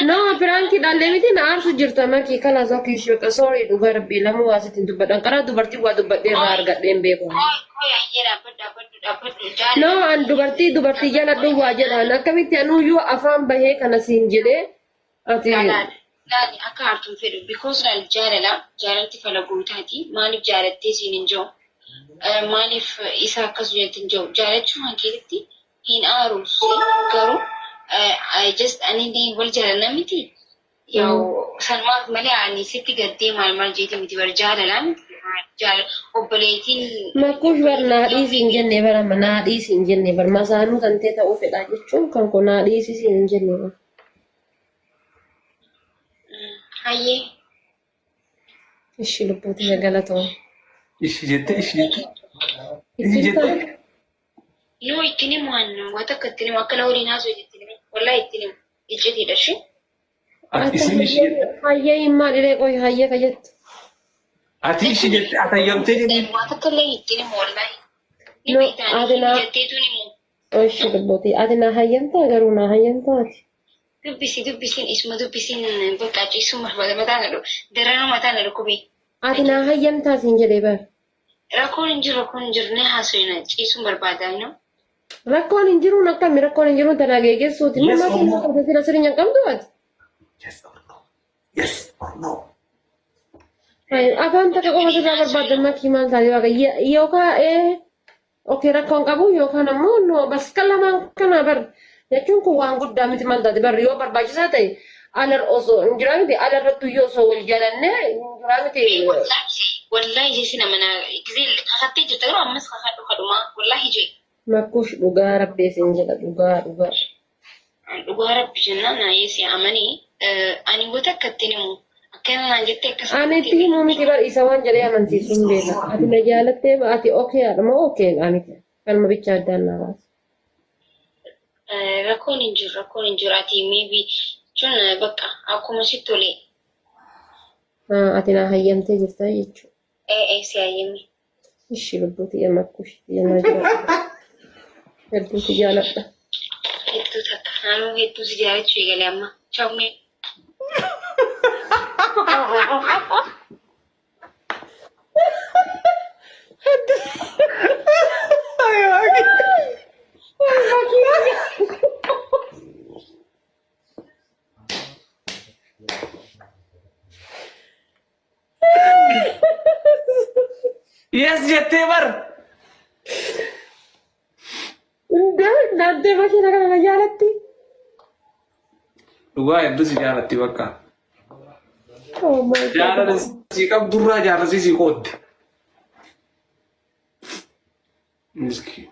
No, piraanki dhalle miti na aarsu jirta makii kana zoo kiishoota soorii dhugaa rabbii lamu waa sitti hin dubbadhan karaa dubartii waa dubbadhee irraa argadhee hin beeku. No, an dubartii dubartii jaladhu waa jedhaan akkamitti anuu yoo afaan bahee kana siin jedhee ati Laali akka aartuun fedhu because laal jaalala jaalalti fala guutaati maaliif jaalattee siin hin jiru maaliif isa akkas jettin jiru jaalachuu kan keessatti hin aaru garuu I just ani illee wal jaalanna miti. Yaa'u salmaaf malee ani sitti gaddee maal maal jeete miti bar jaalala miti. Jaala obboleettiin Makuush bar naa dhiisi hin jenne bar amma naa dhiisi hin jenne bar masaanuu kan ta'e ta'uu fedhaa jechuun kan koo naa dhiisi siin hin jenne bar. hayyee Ishi lubbuuti na galatoom. Ishi jette ishi jette. Ishi jette. No ittiin himu annu waa takka ittiin himu akkana waliin haasofti ittiin himu wallahi ittiin himu iccitiidha shi. Ati isin ishi jette. Hayyee hin maalilee qoy hayyee ka jettu. Ati ishi jette atayyamtee jedhee. Waa takka illee ittiin himu wallahi. Ni No, beektaa ati ni naa- jetteetuun himu. Oshi dubbati ati naa hayyamtaa garuu naa hayyamtaa ati. Dubbisi dubbisiin isuma dubbisiin bakka ciisuun barbaada mataa na dhukkube. Daranuu mataa na dhukkube. Ati naa hayyamtaa siin jedhee bar. Rakkoon hin jiru rakkoon hin jirne haasofna ciisuun barbaadaa inoo. Rakkoon hin jiruun akkami rakkoon hin jiruun tanaa geegessuuti. Yes, Mammaa kennaa Oromoo. qabda sila sirinya hin qabdu ati. Yes or no? Yes or no? Ay, Afaan takka qofa sirraa barbaaddan makii maal taate waaqa yookaa ee Okay rakkoo hin qabu yookaan ammoo no bakka lamaan kana bar jechuun kun waan guddaa miti maal taate bar yoo barbaachisaa ta'e alar osoo hin jiraa miti ala irratti iyyuu osoo wal jaalanne hin jiraa miti. Wallaahi wallaahi jechi nama naa gizee kakattee jirta garuu ammas kakadhu kadhumaa wallaahi jee. Makkuush dhugaa rabbii isin jedha dhugaa dhugaa. An dhugaa rabbi jennaan naayee si amani ani wata akka ittiin himu akkana naan jettee akkas Ani itti himuu miti bar isa waan jedhee amansiisu hin beeka. Ati na jaalattee ba ati okee haadha moo okee dha miti. Kanuma bichaa addaan naa baasa. rakkoon hin jiru rakkoon hin jiru ati maybe jechuun eh, bakka akkuma sitti tolee Ah, Ati naa hayyamtee jirta jechuudha. ee ee si hayyame Ishi lubbuu tiyya makkuu ishii tiyya naa jiraadha. Hedduu si jaaladha. Hedduu takka. Naannoo hedduu si jaalachuu eegale amma. Chawmee. Yes jettee bar. Hundee naantee makiina kana na jaalatti. Dhugaa hedduu si jaalatti bakka. Oh my God. Jaalala si qabdurraa jaalalsi si qoodde. Miskiin.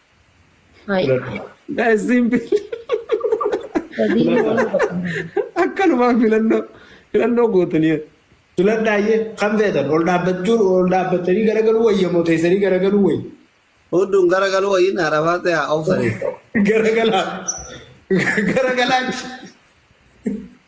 Hai. Isin Sadii waan akkanumaan filannoo filannoo gootanii filadhaayyee kan feetan ol dhaabbachuu ol dhaabbatanii garagaluu wayya moo teessanii garagaluu wayya Huddun gara galuu wayyin arabaa ta'e obsanii. garagalaa garagalaa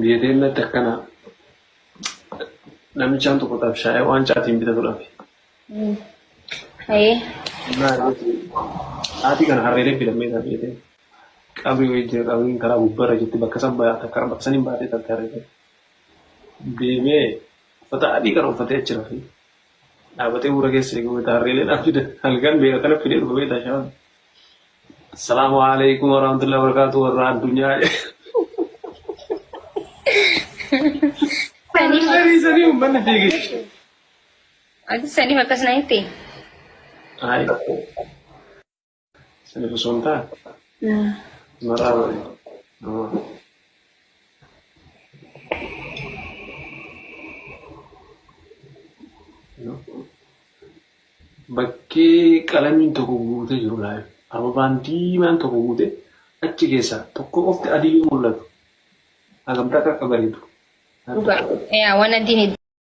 Biyya deemnatti akkana namichaan tokko tabshaa'ee waan caatiin bitatu dhabe. Ayee. Haati kana harreelee filammee isaa filatee qabrii wayii jira qabriin karaa gubbarra jirti bakka san baate karaa bakka saniin baatee talte harreelee. Deemee uffata adii kana uffatee achi rafee. Dhaabatee uura keessa eega beeta harreelee dhaan fida halkan beela kana fidee dhufa beeta shaan. Assalaamu alaikum warahmatullahi wabarakatuh warra addunyaa. Saniif Sanii sanii uummanni fiigee. ati saniif akkas na hitte. Ayi. Sani osoo hin taane. Maraa bari. Bakkee qalamiin tokko guutee jiru laayif. Ababaan diimaan tokko guutee achi keessaa tokko qofti adii mul'atu. Hagam takka akka bareedu. Dhugaa. Yaa waan addiin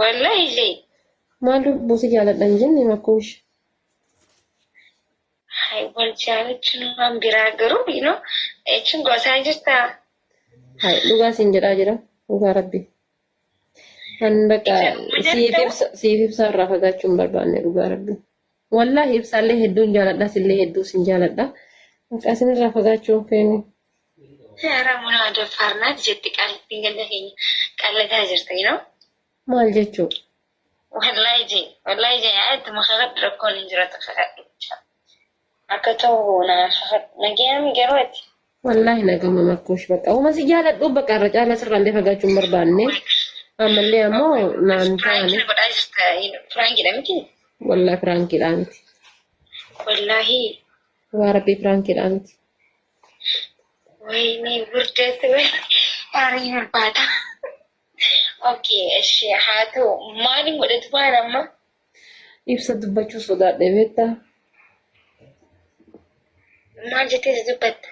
Wallahi Lee. Maal lubbuu si jaaladha hin jenne makkuush. Hay wal jaalachuun waan biraa garuu you know jechuun gosaa jirta. Hay dhugaa siin jedhaa jira dhugaa rabbi. Kan bakka Ija dhugaa siif jettu. ibsa siif ibsa irraa fagaachuu hin barbaanne dhugaa rabbi. Wallaahi ibsaallee hedduun jaaladha sillee hedduu sin jaaladha. Maqaa isinirraa fagaachuu hin feenu. Ramuna ada farnat jetti qalbi ganda keenya qallata jirta you know Maal jechuu? wallahi je wallahi je ayat makakadhu rakkoon hin jiratu kakadhu akka ta'u na kakadhu nagayami garuu ati Wallaahi na gama makkuush baqa. Uma si jaaladhu baqa irra caalaa sirraa illee fagaachuu hin barbaanne. Ammallee ammoo naan taane. Piraankii godhaa jirta. Piraankiidha miti. Wallaahi piraankiidhaa miti. Wallaahi. Waa rabbii piraankiidhaa miti. Wayinee burdeetti wayii. Aarii barbaada. Okay, eshi haa ta'u. Maali godhatu baana amma? Ibsa dubbachuu sodaadhe beektaa? Maal jettee si dubbatta?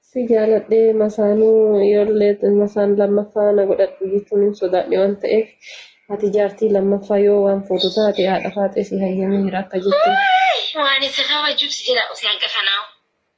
Si jaaladhee masaanuu ijoollee masaan lammaffaa na godhadhu jechuun hin sodaadhe waan ta'eef ati jaartii lammaffaa yoo waan fuutu taate haadha faaxee si hayyamee jira akka jettu. Waan isa kabajuuf si jala usee hanqa kanaa.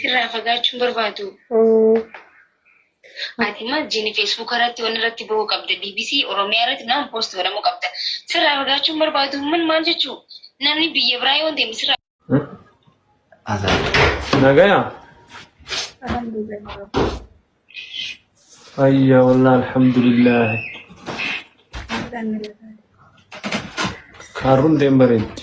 Sirraa fagaachuun barbaadu. Ati maal jiini feesbuuka irratti waan irratti bahuu qabda. BBC Oromiyaa irratti naan poost godhamuu qabda. Sirraa fagaachuun barbaadu min maal jechuu? Namni biyya biraa yoo deemu sirraa Nagaya? Ayya wallah alhamdulillah. Kaarruun deem bareeddi.